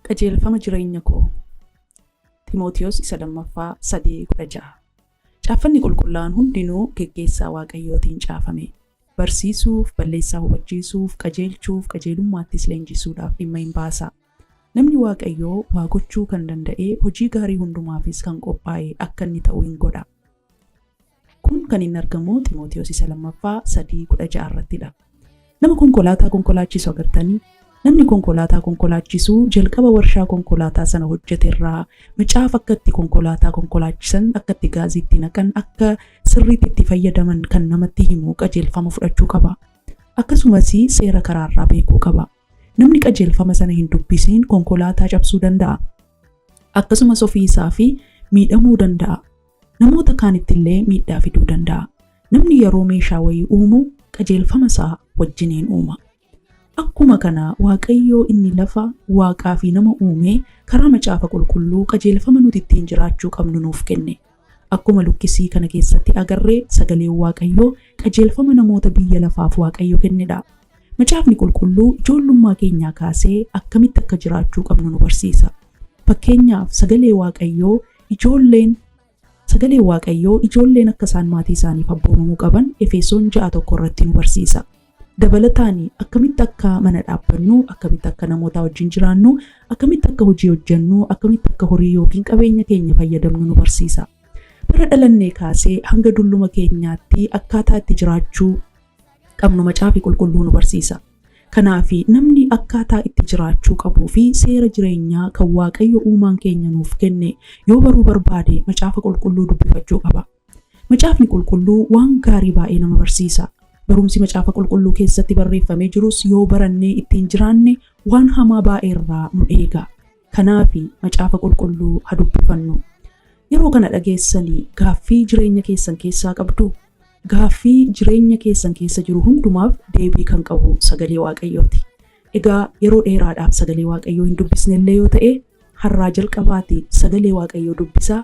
Qajeelfama jireenya koo Ximootiyoos isa lammaffaa sadii kudha ja'a. Caaffanni qulqullaa'an hundinuu geggeessaa Waaqayyootiin caafame. Barsiisuuf, balleessaa hubachiisuuf, qajeelchuuf, qajeelummaattis leenjisuudhaaf dhimma in baasa. Namni Waaqayyoo waa gochuu kan danda'ee hojii gaarii hundumaafis kan qophaa'e akka inni ta'u in godha. Kun kan inni argamu Ximotewos isa lammaffaa 3 16 irratti dha. Nama konkolaataa konkolaachisu agartanii? Namni konkolaataa konkolaachisu jalqaba warshaa konkolaataa sana hojjete irraa macaafa akka itti konkolaataa konkolaachisan, akka itti gaazii itti naqan, akka sirriitti itti fayyadaman kan namatti himu qajeelfama fudhachuu qaba. Akkasumas seera karaa irraa beekuu qaba. Namni qajeelfama sana hin dubbisiin konkolaataa cabsuu danda'a. Akkasumas ofii isaa fi miidhamuu danda'a. Namoota kaanitti illee miidhaa fiduu danda'a. Namni yeroo meeshaa wayii uumu qajeelfama isaa wajjiniin uuma. Akkuma kana Waaqayyoo inni lafa, waaqaa fi nama uumee karaa macaafa qulqulluu qajeelfama nuti ittiin jiraachuu qabnu nuuf kenne. Akkuma luqqisii kana keessatti agarre sagaleen Waaqayyoo qajeelfama namoota biyya lafaaf Waaqayyo kennedha. Macaafni qulqulluu ijoollummaa keenyaa kaasee akkamitti akka jiraachuu qabnu nu barsiisa. Fakkeenyaaf sagalee Waaqayyoo ijoolleen sagalee Waaqayyoo ijoolleen akka isaan maatii isaaniif abboomamuu qaban Efesoon 6:1 irratti nu barsiisa. Dabalataani akkamitti akka mana dhaabbannu, akkamitti akka namootaa wajjin jiraannu, akkamitti akka hojii hojjennu, akkamitti akka horii ykn qabeenya keenya fayyadamnu nu barsiisa. Bara dhalannee kaasee hanga dulluma keenyaatti akkaataa itti jiraachuu qabnu Macaafi Qulqulluu nu barsiisa. Kanaaf namni akkaataa itti jiraachuu qabuu fi seera jireenyaa kan Waaqayyo uumaan keenya nuuf kenne yoo baruu barbaade Macaafa Qulqulluu dubbifachuu qaba. Macaafni Qulqulluu waan gaarii baay'ee nama barsiisa. Barumsi Macaafa Qulqulluu keessatti barreeffamee jirus yoo barannee ittiin jiraanne waan hamaa baay'ee irraa nu eega. Kanaafi Macaafa Qulqulluu ha dubbifannu. Yeroo kana dhageessani gaaffii jireenya keessan keessaa qabduu? Gaaffii jireenya keessan keessa jiru hundumaaf deebii kan qabu Sagalee Waaqayyooti. Egaa yeroo dheeraadhaaf Sagalee Waaqayyoo hin dubbisne illee yoo ta'e, har'aa jalqabaati Sagalee Waaqayyoo dubbisaa,